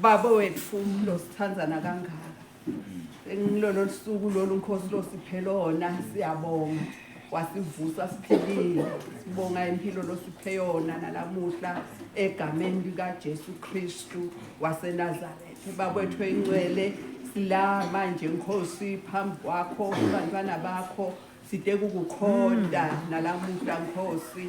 Baba wethu umlo sithandana kangaka. Engilolo lusuku lolu nkosi losiphelona siyabonga. Wasivusa siphilile. Sibonga impilo losiphe yona nalamuhla egameni lika Jesu Kristu waseNazareth. Baba wethu encwele sila manje nkosi phambi kwakho kubantwana bakho side kukukhonda nalamuhla nkosi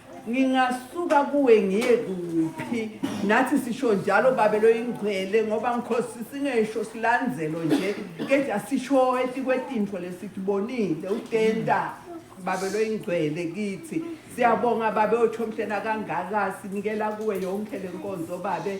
ngingasuka kuwe ngiye kuphi nathi sisho njalo babe loyingcwele ngoba ngikhosi singesho silandzelo nje kepha sisho etikwetintfo lesitibonile utenta babe loyingcwele kithi siyabonga babe othomhlena kangaka sinikela kuwe yonke lenkonzo babe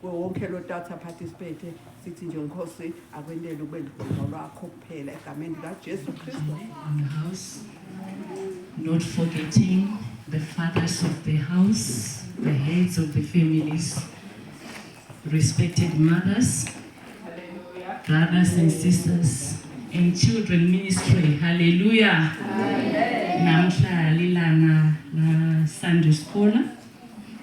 Kuwo wonke lo tata participate sithi nje nkosi akwendele ukube ligqomo lwakho kuphela egameni likaJesu Kristu. Not forgetting the fathers of the house, the heads of the families, respected mothers, brothers and sisters, and children ministry. Hallelujah. Namhla lilanga la Sunday school.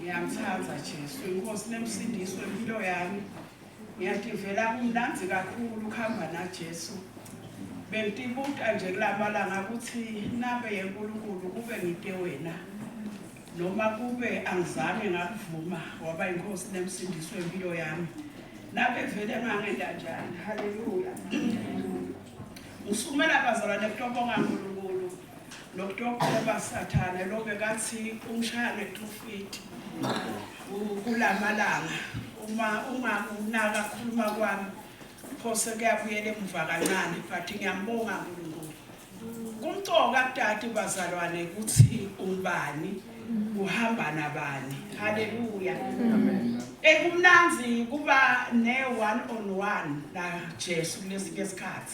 Ngiyamthanda Jesu, inkosi nemsindiso impilo yami. Ngiyativela kumnandi kakhulu ukuhamba naJesu. Bengitibuta nje kulamalanga ukuthi nabe yeNkulunkulu kube ngite wena. Noma kube angizange ngakuvuma waba inkosi nemsindiso impilo yami. Nabe vele ngangenda njani. Hallelujah. Usumela bazalwane kutobonga Nkulunkulu. nokutokela basathane lo bekathi umshaya ngetufiti kula malanga uma ungakunaka khuluma kwami phose kuyabuyela emuva kancane but ngiyambonga nkulunkulu kumcoka kudade bazalwane ukuthi ubani uhamba nabani haleluya ekumnanzi kuba ne-one on one najesu kulesi ke sikhathi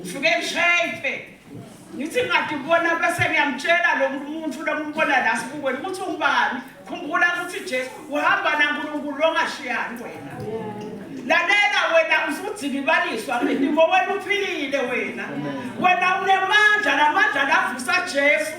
ngifike ngishayiphe ngithi ngathi ubona bese ngiyamtshela lo muntu lo ngibona la sibukweni ukuthi ungubani khumbula ukuthi Jesu uhamba naNkulunkulu ongashiyani wena lalela wena usudzikibaliswa ngendimo wena uphilile wena wena unemandla lamandla lavusa Jesu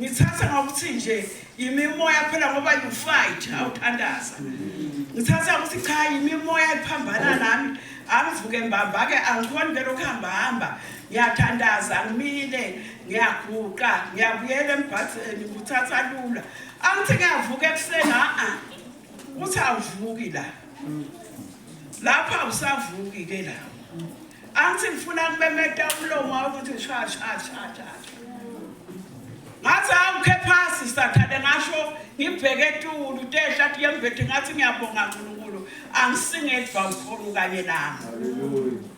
Ngithatha ngokuthi nje yimimoya phela ngoba you fight awuthandaza. Ngithatha ukuthi cha yimimoya ephambana nami angivuke mbamba ke angikhoni ke lokho hamba hamba ngiyathandaza ngimile ngiyaguqa ngiyabuyela embhadeni nguthatha lula angithi ngiyavuka ekuseni a uthi awuvuki la lapho awusavuki ke la angithi ngifuna kumemeta umlomo wakho ukuthi sha sha sha sha ngathi awukhe phasi sathane ngasho ngibheke etulu tehla athi yembethe ngathi ngiyabonga nkulunkulu angisingedwa ukhona kanye nami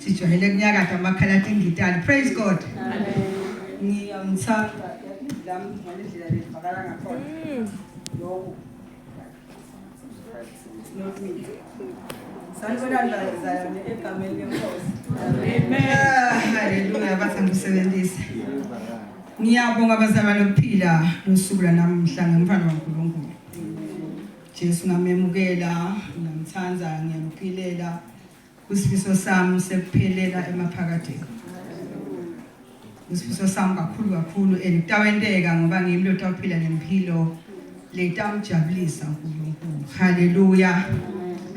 Sijwayele kunyakatha amakhala tingitali. Praise God. Ngiyamthanda lami ngale ndlela levakala ngakhona. Lokho. Sanibonani bazalwane egameni lenkosi. Ah, Haleluya bathi angisebenzise. Ngiyabonga bazalwane ukuphila ngosuku lanamuhla ngomfana kaNkulunkulu. Jesu ngamemukela, ngiyamthanda, ngiyamqilela. Isifiso sami sekuphelela emaphakadeni. Isifiso sami kakhulu kakhulu and kutawenteka ngoba ngimi lotawuphila nempilo letamjabulisa uNkulunkulu. Haleluya.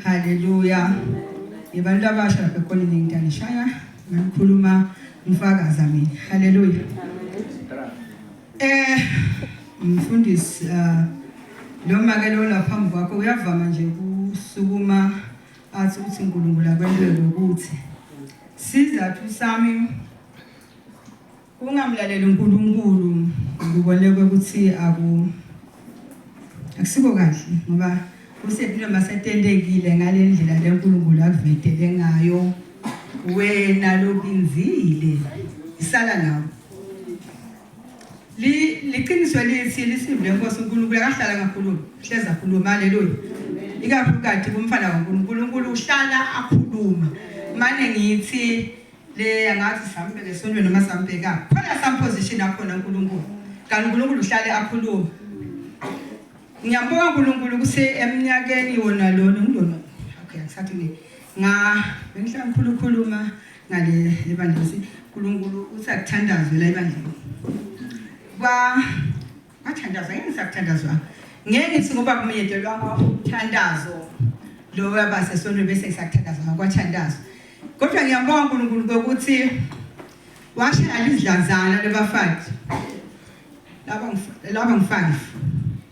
Haleluya. Ngibantu abasha lapha khona ningitangishaya ngikhuluma ngifakaza mina. Haleluya. Eh mfundisi uh, lo make lo lapha phambi kwakho uyavama nje ukusukuma athi ukuthi uNkulunkulu akwenze ngokuthi sizathu sami kungamlaleli uNkulunkulu ngibolekwe ukuthi aku akusiko kahle ngoba usepilo masetentekile ngale ndlela le nkulunkulu akuvetele ngayo wena lokinzile isala nawo Li liqiniso elithi lisivule inkosi uNkulunkulu akahlala ngakhuluma hleza khuluma haleluya ikakhulukathi kumfana kaNkulunkulu uNkulunkulu uhlala akhuluma manje ngithi le angathi sambe lesonto noma sambheka khona some position akhona uNkulunkulu kanti uNkulunkulu uhlale akhuluma ngiyambonga uNkulunkulu kuse eminyakeni wona lona ngidona okay ngisathi ngi nga bengihlala ngikhulukhuluma ngale ebandleni uNkulunkulu uthi akuthandazwe la ebandleni kwa bathandazwa yini sakuthandazwa ngeke ngithi ngoba kumenyetelwa umthandazo lo wabase sonto bese ngisakuthandazwa kwathandazwa kodwa ngiyabonga uNkulunkulu ukuthi washe alizidlazana lebafathi laba laba ngifanele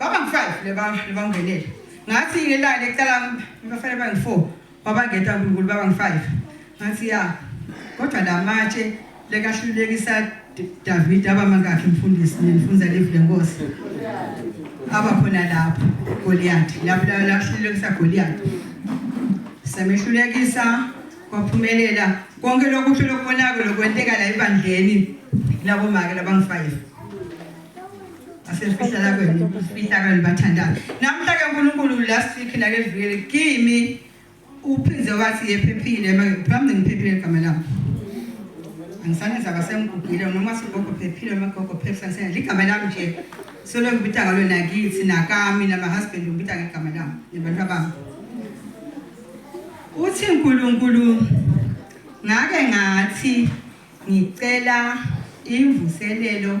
Baba ngifazi leba lebangenele. Ngathi ngelale ecala ngibafana bang 4 wabangeta uNkulunkulu baba ngi 5. Ngathi ya kodwa la matshe lekahlulekisa David aba mangakhe mfundisi nifunza live lenkosi. Aba khona lapho Goliath lapho lahlulekisa Goliath. Samehlulekisa kwaphumelela konke lokuhle lokubonakala lokwenteka la ebandleni labo make labangi 5. asefihlakweni ufihlakweni bathandaza namhla ke uNkulunkulu last week nake vile kimi uphinde wathi yephephile phambi ngiphephile igama lami angisanenza kasemgugile noma sigogo phephile amagogo phephisa ngisena ligama lami nje solo ngibita ngalo nakithi nakami namahusband ngibita ngegama lami nebantu abami uthi uNkulunkulu ngake ngathi ngicela imvuselelo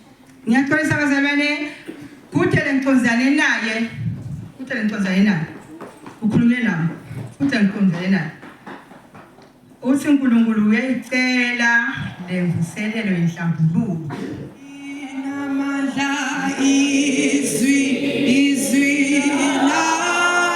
Ngiyaxolisa bazalwane kudele ngiconzane naye kudele ngiconzane naye ukhulume nami kudele ngiconzane naye uthi uNkulunkulu uyayicela lemvuselelo yenhlambuluko inamandla izwi izwi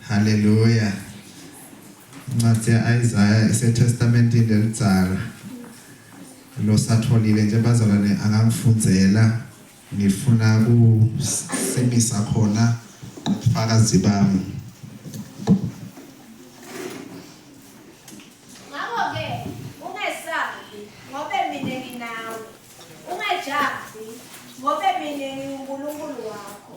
Hallelujah. Incwadi ya-Isaya isetestamentini elidzala. Losatholile nje bazalwane angangifundzela ngifuna kusimisa khona ubufakazi bami. Ngakho-ke ungesabi ngobe mina nginawe, ungajahi ngobe mina nginguNkulunkulu wakho.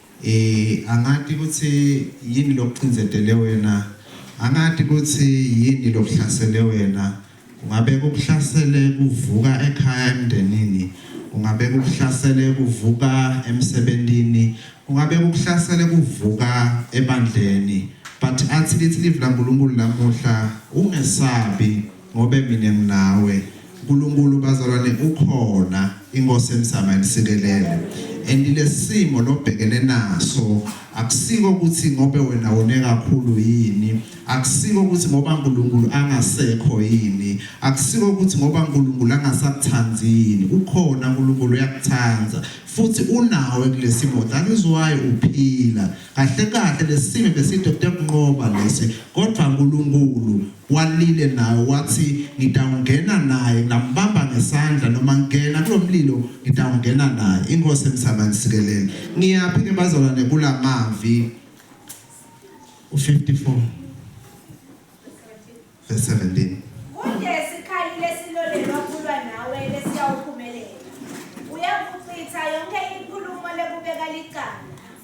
Angati kutsi yini lokucindzetele wena, angati kutsi yini lokuhlasele wena. Kungabe kukuhlasele kuvuka ekhaya emndenini, kungabe kukuhlasele kuvuka emsebentini, kungabe kukuhlasele kuvuka ebandleni. But atsi litsi Livi laNkulunkulu lamuhla, ungesabi. Ngobe mina nginawe Nkulunkulu bazalwane ukhona inkosi emzama imsikelele and lesimo lobhekene naso akusiko ukuthi ngobe wena wone kakhulu yini akusiko ukuthi ngoba uNkulunkulu angasekho yini akusiko ukuthi ngoba uNkulunkulu angasakuthandi yini ukhona uNkulunkulu uyakuthanda futhi unawe kulesimo that is why uphila kahle kahle lesimo beside kuyokunqoba lesi kodwa uNkulunkulu Walile nayo wathi ngitawungena naye ngambamba ngesandla noma ngena kulomlilo ngitawungena naye inkosi emsabani sikelele ngiyaphi ke bazalwane kulamavi u54 verse 17 Kunje sikhali lesilolelwa kulwa nawe lesiyawuphumelela uyakuchitha yonke inkulumo lekubeka licala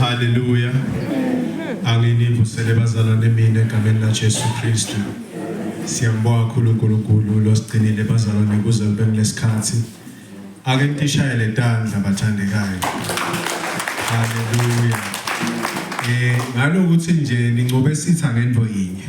Haleluya. Anginivusele bazalwane mina egameni laJesu Kristu. Siyambonga kakhulu uNkulunkulu losigcinile bazalwane kuze kube kulesikhathi. Ake nitishayele tandla bathandekayo. Haleluya. Eh ngalokuthi nje nincobe sitha ngento yinye.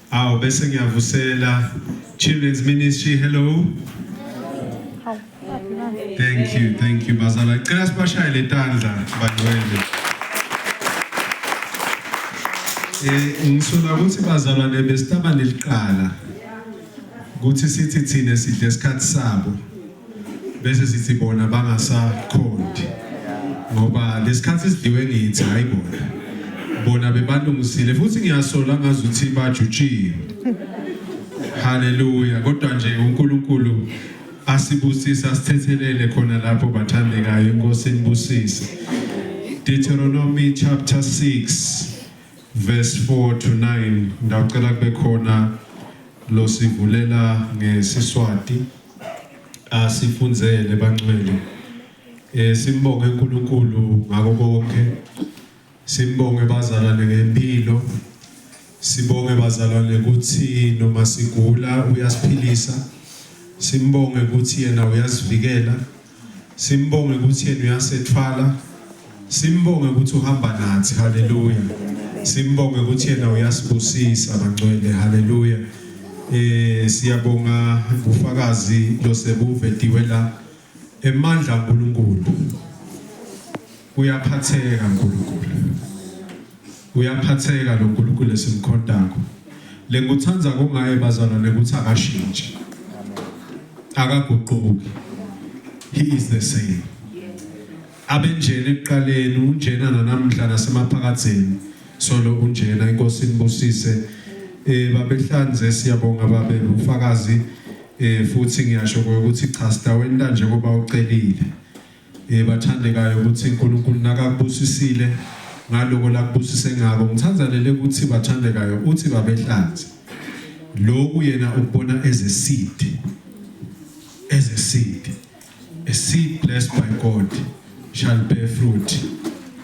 Awu bese ngiyavusela Children's Ministry hello. Thank you, thank you bazala. Cela sibashaye letandla bangcwele. Eh ngisola ukuthi bazalwane besitaba neliqala. Kuthi sithi thina sidle isikhathi sabo. bese sithi bona bangasakhondi ngoba lesikhathi sidliwe ngithi hayi bona bona bebalungisile futhi ngiyasola ngazi ukuthi bajutshiwe haleluya kodwa nje uNkulunkulu asibusise asithethelele khona lapho bathandekayo inkosi inibusise Deuteronomy chapter 6 verse 4 to 9 ngicela kube khona lo sivulela ngesiswati asifunzele bangcwele eh simbonge uNkulunkulu ngako konke simbonge bazalwane ngempilo sibonge bazalwane ukuthi noma sigula uyasiphilisa simbonge ukuthi yena uyasivikela Simbonge ukuthi yena uyasethwala. Simbonge ukuthi uhamba nathi. Haleluya. Simbonge ukuthi yena uyasibusisa bangcwele. Haleluya. Eh siyabonga ubufakazi losebuvediwe la emandla uNkulunkulu. Uyaphatheka Nkulunkulu. Uyaphatheka lo Nkulunkulu esimkhontako. Le ngikuthanda kungaye bazalwane ukuthi akashintshi. Akaguquki. He is the same. Abenjena ekuqaleni unjena nanamhla nasemaphakatheni. Solo unjena inkosi inibusise. Eh babehlanze siyabonga babe ufakazi eh futhi ngiyasho ukuthi cha sidaweni kanje kuba ucelile. Eh bathandekayo ukuthi uNkulunkulu nakakubusisile ngaloko lakubusise ngako ngithandzanele ukuthi bathandekayo uthi babehlanzi lokhu yena ukubona as a seed as a seed a seed blessed by God shall bear fruit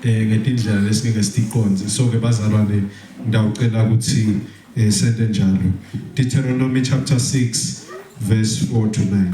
eh ngetindlela lesingeke siqonde so ke bazalwane ngiyawucela ukuthi eh, sente njalo Deuteronomy chapter 6 verse 4 to 9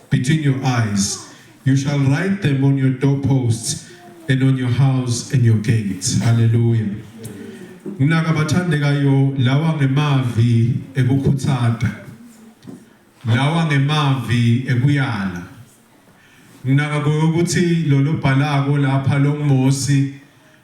between your eyes you shall write them on your doorposts and on your house and your gates hallelujah nginaka abathandekayo lawa ngemavi ekukhuthata lawa ngemavi ekuyala nginaka ukuthi lolobhalako lapha lomosi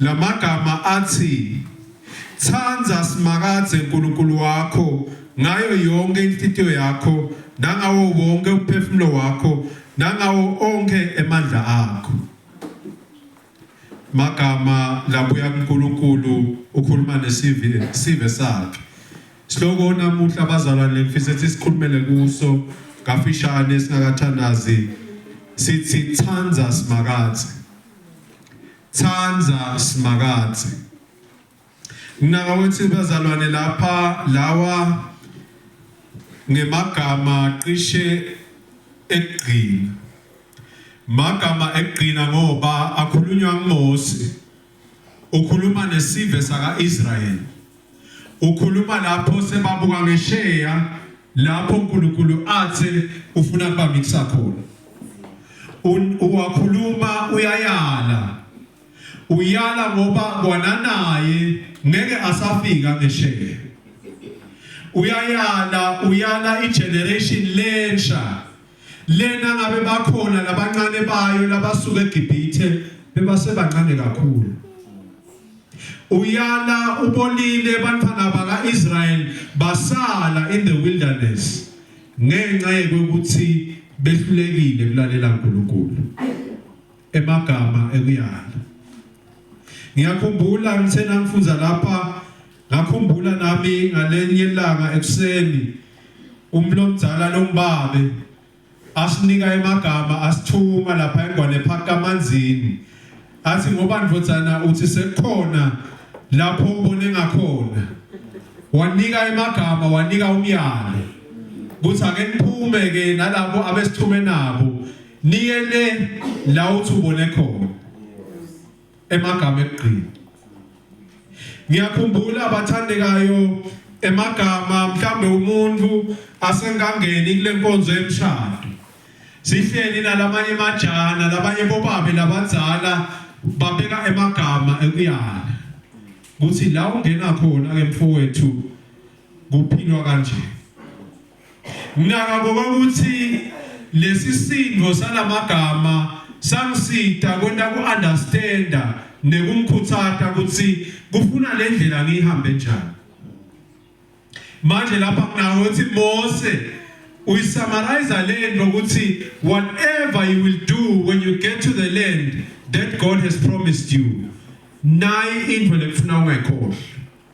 La magama athi, Thanda Simakadze Nkulunkulu wakho ngayo yonkhe inhlitiyo yakho nangawo wonkhe umphefumulo wakho nangawo onkhe emandla akho. Magama labuya kuNkulunkulu ukhuluma nesive sive sakhe. Sihloko namuhla bazalwane ngifisa ukuthi sikhulumele kuso kafishane singakathandazi sithi Thanda Simakadze. Thanda Simakadze, Mnaka wethu bazalwane lapha lawa ngemagama cishe ekugcina. Magama ekugcina ngoba akhulunywa nguMose, ukhuluma nesive saka-Israyeli. Ukhuluma lapho sebabuka ngesheya lapho uNkulunkulu athe ufuna kubamikisa khona. Uwakhuluma uyayala. Uyala ngoba kwananaye ngeke asafika ngesheya. Uyayala uyala igeneration lensha Lena ngabe bakhona labancane bayo labasuka eGibhithe bebasebancane kakhulu. Uyala ubolile bantwana bakaIsrael basala in the wilderness ngenxa yokuthi behlulekile kulalela uNkulunkulu. emagama ekuyala ngiyakhumbula ngisenamfuza lapha ngakhumbula nami ngalenye ilanga ekuseni umlomzala lombabe asinika emagama asithuma lapha engwane phaka amanzini athi ngoba ndvodzana uthi sekukhona lapho ubone ngakhona wanika emagama wanika umyalo kuthi ake niphume ke nalabo abesithume nabo niye le la uthi ubone khona emagama ekugcina ngiyakhumbula abathandekayo emagama mhlambe umuntu asengangeni kule nkonzo yemshado sihleli nalamanye majana labanye bobabe labadzala babeka emagama ekuyala kuthi la ungena khona ke mfowethu kuphilwa kanje Ngakabo kwakuthi lesisindvo salamagama sangisita kwenta ku-understanda nekumkhutsata kutsi kufuna lendlela ngiyihambe njani. Manje lapha nginawo ukuthi Mose uyisamarayiza lento ukuthi whatever you will do when you get to the land that God has promised you nayi into lekufuna ungayikhohlwa.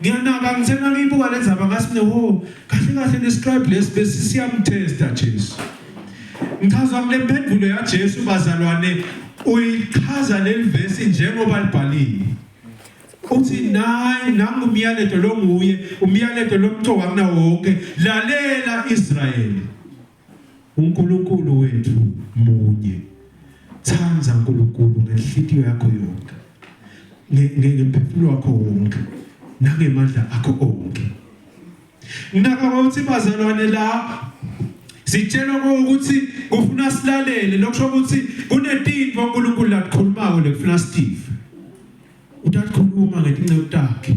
ngiyanaka ngithe nangiyibuka le ndzaba ngasi mine wo kahle kahle nescribe lesi besi siyamthesta jesu ngichazwa kule mphendulo yajesu bazalwane uyichaza leli vesi njengoba libhaliwe uthi nayi nangu umyalezo lo nguye umyalezo lomcoka kunawo wonke lalela israyeli uNkulunkulu wethu munye thanda uNkulunkulu ngenhliziyo yakho yonke ngemphefumulo wakho wonke nangemandla akho onke ngakho ukuthi bazalwane la sitshelwa ukuthi kufuna silalele lokusho ukuthi kunetinto uNkulunkulu lakukhulumako lekufuna sitive utakhuluma ngetinceku takhe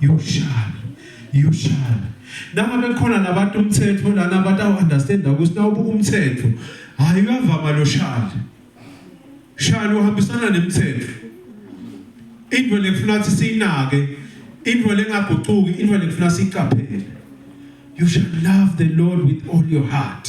yoshala yoshala nangabe khona nabantu umthetho lana abantu awu-understanda ukuthi nawubuka umthetho hhayi uyavama lo shali shali uhambisana nemthetho into le kufuna ukuthi siyinake into le ngagucuki into le kufuna siyiqaphele you shall love the lord with all your heart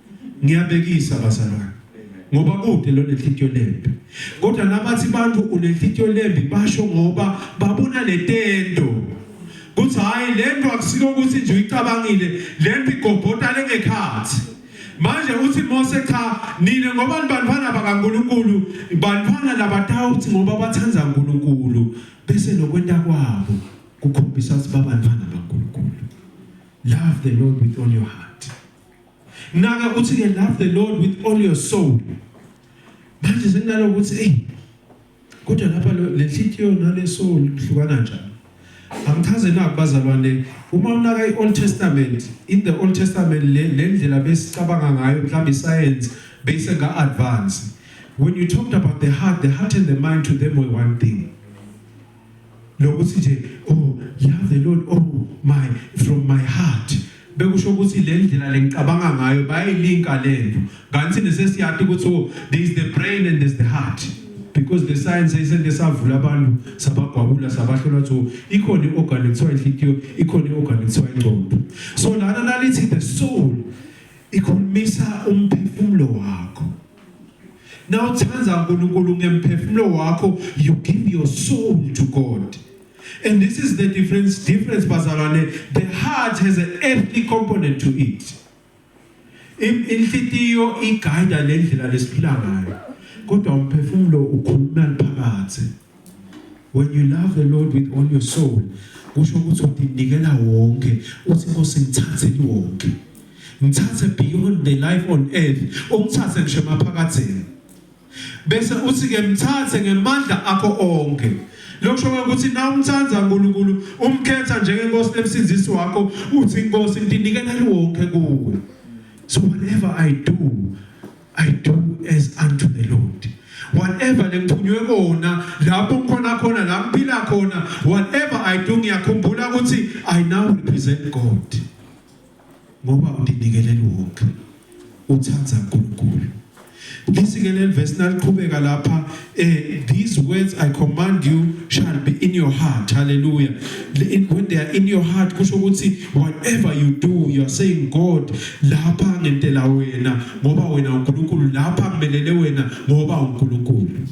ngiyabekisa bazalwane ngoba kude lo nenhlitiyo lembi kodwa nabathi bantu unenhlitiyo lembi basho ngoba babona letento kuthi hayi lento akusiko ukuthi nje uyicabangile lento igobhota lengekhathi manje uthi Mose cha nina ngoba nibantwana bakaNkuluNkulu bantwana labatawuthi ngoba bathanda uNkuluNkulu bese nokwenta kwabo kukhombisa ukuthi babantwana bakaNkuluNkulu love the lord with all your heart naka ukuthi ke love the lord with all your soul manje senginalo ukuthi hey kodwa lapha le nhliziyo nale soul ihlukana njani angichaze na kubazalwane uma unaka i-old testament in the old testament le ndlela besicabanga ngayo mhlawumbe isayensi beyise nga-advance when you talked about the heart the heart and the mind to them were one thing lokuthi nje oh love the lord oh my from my heart bekusho ukuthi le ndlela lengicabanga ngayo bayilinka lento kanti nesesiyati ukuthi oh there is the brain and there's the heart because the science isente savula abantu sabagwabula sabahlolwa so ikhona i-organ ekuthiwa inhlikiyo ikhona i-organ ekuthiwa ingqondo so lana nalithi the soul ikhulumisa umphefumulo wakho Now uthanda uNkulunkulu ngemphefumulo wakho you give your soul to God. And this is the difference difference bazalwane the heart has an earthly component to it. Inhlitiyo iguide lendlela lesiphila ngayo. Kodwa umphefumulo ukhuluma phakathi. when you love the lord with all your soul kusho ukuthi udinikela wonke uthi nkosi ngithathe wonke ngithathe beyond the life on earth ungithathe ngisho emaphakathini bese uthi ke mthathe ngemandla akho onke lokusho ukuthi na umthanda uNkulunkulu umkhetha njengenkosi emsindisi wakho uthi inkosi ndinikela wonke kuwe so whatever i do I do as unto the Lord. Whatever lengiphunywe kona lapho ngikhona khona la ngiphila khona whatever I do ngiyakhumbula ukuthi I now represent God. Ngoba undinikelela wonke. Uthanda uNkulunkulu. Lisikele verse naliqhubeka lapha Uh, these words I command you shall be in your heart. Hallelujah. When they are in your heart, kusho ukuthi whatever you do, you are saying God, lapha ngentela wena ngoba wena uNkulunkulu, lapha ngimelele wena ngoba uNkulunkulu.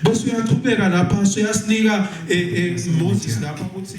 Bese uyaqhubeka lapha, so yasinika eh, eh, Moses lapha ukuthi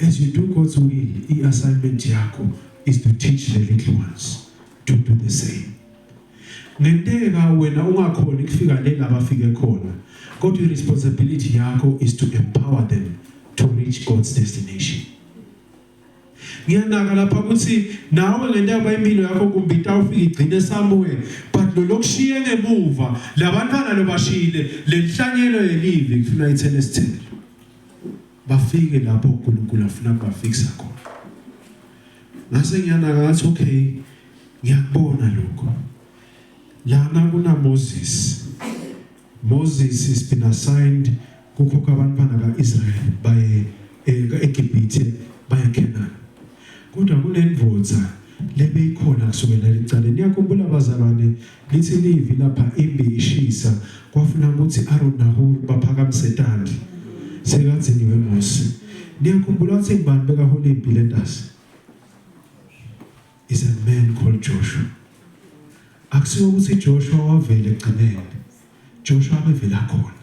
As you do God's will, i-assignment yakho is to teach the little ones to do the same. Ngenteka wena ungakhona ukufika le labafike khona, kodwa i-responsibility yakho is to empower them to reach God's destination. Ngiyanaka lapha ukuthi nawe ngentaba impilo yakho kumbe itawufika igcine somewhere but lo lokushiye ngemuva labantwana lobashile lenhlanyelo yelivi kufuna ithele sithele bafike lapho uNkulunkulu afuna kubafikisa khona ngase ngiyanaka ngathi okay ngiyakubona lokho lana kuna Moses Moses is been assigned kukhokha abantwana kaIsrael baye eh, eGibhithe baye Canaan Kodwa kunendvodza lebeyikhona kusukela licale. Niyakhumbula bazalwane, lithi livi lapha imbi ishisa kwafuna ukuthi Aaron naHur baphakamise tandla. Sekatsi niwe Mose. Niyakhumbula ukuthi ngubani bekahola impi lentasi? Is a man called Joshua. Akusiwo ukuthi Joshua wavele egcineni. Joshua abevela khona.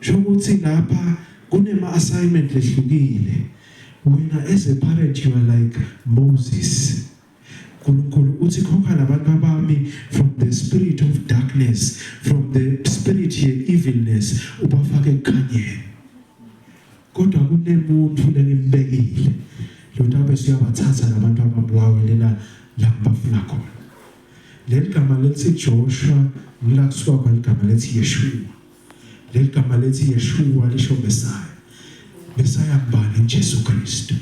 Shokuthi lapha kunema assignment lehlukile. Wena as a parent you are like Moses. Nkulunkulu uthi khokha nabantu abami from the spirit of darkness from the spirit ye evilness ubafake ekukhanyeni kodwa kunemuntu lengimbekile lona bese uyabathatha labantu ababulawe lena la bafuna khona Leli gama lethi Joshua ngila kusuka khona igama lethi Yeshua. Leli gama lethi Yeshua lisho Messiah. Messiah mbani? Jesu Kristu.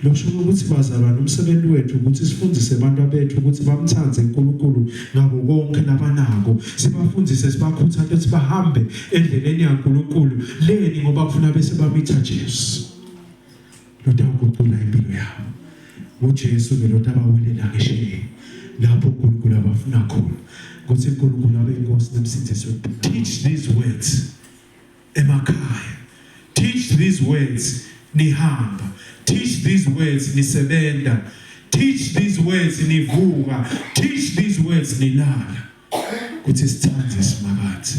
Losho ukuthi bazalwane umsebenzi wethu ukuthi sifundise abantu abethu ukuthi bamthande uNkulunkulu ngabo konke labanako. Sibafundise sibakhuthaze ukuthi bahambe endleleni yaNkulunkulu leni ngoba kufuna bese bamitha Jesu. lotawugucula impilo yabo ngujesu ke lotabawelela ngesheleni lapho unkulunkulu abafuna khona ukuthi unkulunkulu abe inkosi nemsindisi teach these words emakhaya teach these words nihamba teach these words nisebenza teach these words nivuka teach these words nilala ukuthi sithande simakathi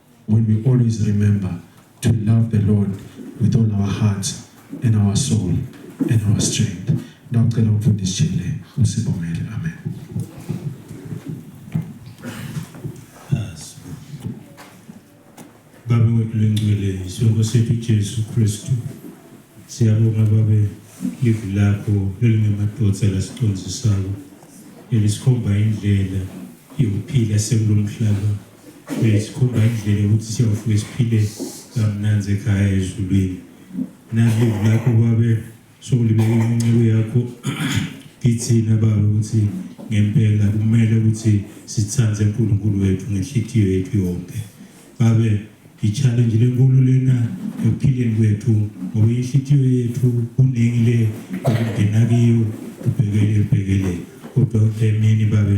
When we always remember to love the Lord with all our hearts and our soul and our strength. Ndawucela umfundisi Jele usibongele. Amen. Baba wethu lengcwele isongo sethu Jesu Kristu siyabonga babe livi lakho elingemadodza lasicondzisayo elisikhomba indlela yokuphila sekulomhlaba Eh, sikhomba indlela yokuthi siyovuke siphile kamnanzi ekhaya ezulwini nalivu lakho babe sokulibeka inceku yakho kithina baba ukuthi ngempela kumele ukuthi sithande uNkulunkulu wethu ngenhliziyo yethu yonke babe i-challenge lenkulu lena ekuphileni kwethu ngoba inhliziyo yethu kuningi le okungena kiyo ubhekele ubhekele kodwa emini babe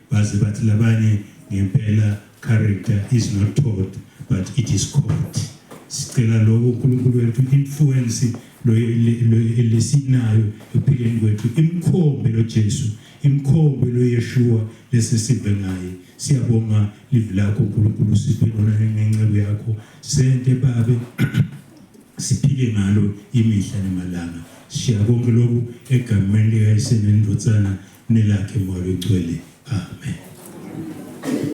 Baze bathi labanye ngempela character is not taught but it is caught. Sicela lokho uNkulunkulu wethu influence lesinayo ekuphileni kwethu imkhombe loJesu imkhombe loYeshua lesi sive ngaye siyabonga live lakho uNkulunkulu siphe lona ngenceku yakho sente babe siphile ngalo imihla nemalanga siya konke lokhu egameni likayisenendotsana nelakhe moya logcwele amen